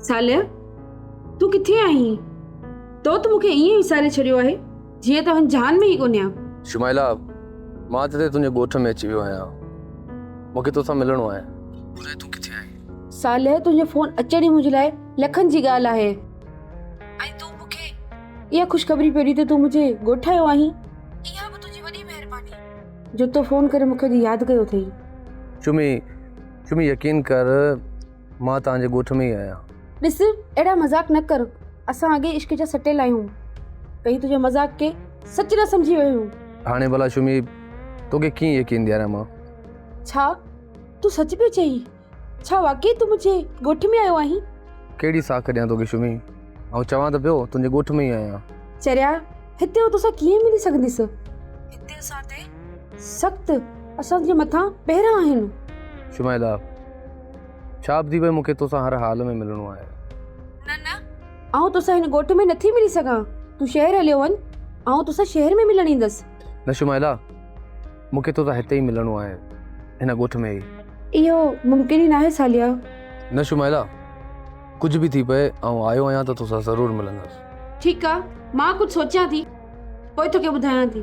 ساليه تون ڪٿي آهين تو ته مونکي ائين وساري ڇڏيو آهي جيئن تو هن جهان ۾ ئي ڪونهي آهي شمائلا مان ته تنهنجي ڳوٺ ۾ اچي ويو آهيان مونکي توسان ملڻو آهي ٻڌاء تون ڪٿي آهين ساليه تنهنجو فون اچڻ ئي منهنجي لاء لکن جي ڳالهه آهي ۽ تون مون کي اها خوشخبري پيو ڏي ته تون مونجهي ڳوٺ آيو آهين. اها به تنهنجي وڏي مهرباني. جو تو فون ڪري مون کي اڄ ياد ڪيو اٿئي. چمي، چمي يقين ڪر مان تنهنجي ڳوٺ ۾ ئي آهيان. ڏس اهڙا مذاق نه ڪر اسان اڳي عشق جا سٽيل آهيون ڪئين تنهنجو مذاق کي سچ نه سمجهي ويو هيون. هاڻي ڀلا چمي توکي ڪيئن يقين ڏياريان مان. ڇا تون سچ پيو چئين. ڇا واقعي تون منهنجي ڳوٺ ۾ آيو آهين؟ ڪهڙي ساک ڏيان توکي شمي؟ آئون چوان ته پيو تنهنجي ڳوٺ ۾ ئي آهيان. چريا، هتي آئون توسان ڪيئن ملي سگهنديس؟ هتي اسان تي سخت اسان جي مٿان پهرا آهن. شمائلا، ڇا ابدي پئي مونکي توسان هر حال ۾ ملڻو آهي. نه نه، آئون توسان هن ڳوٺ ۾ نٿي ملي سگهان. تون شهر هليو وڃ، آئون توسان شهر ۾ ملڻ ايندس. نه شمائلا! مون کي تو سان هتي ئي ملڻو آهي، هن ڳوٺ ۾ ئي. اهو ممڪن ئي ناهي ساليا. نه شمائلا، ڪجهه به ٿي پئي، آئون آيو آهيان ته تو سان ضرور ملندس. ٺيڪ آ، مان ڪجهه سوچيان ٿي، پوء توکي ٻڌايان ٿي.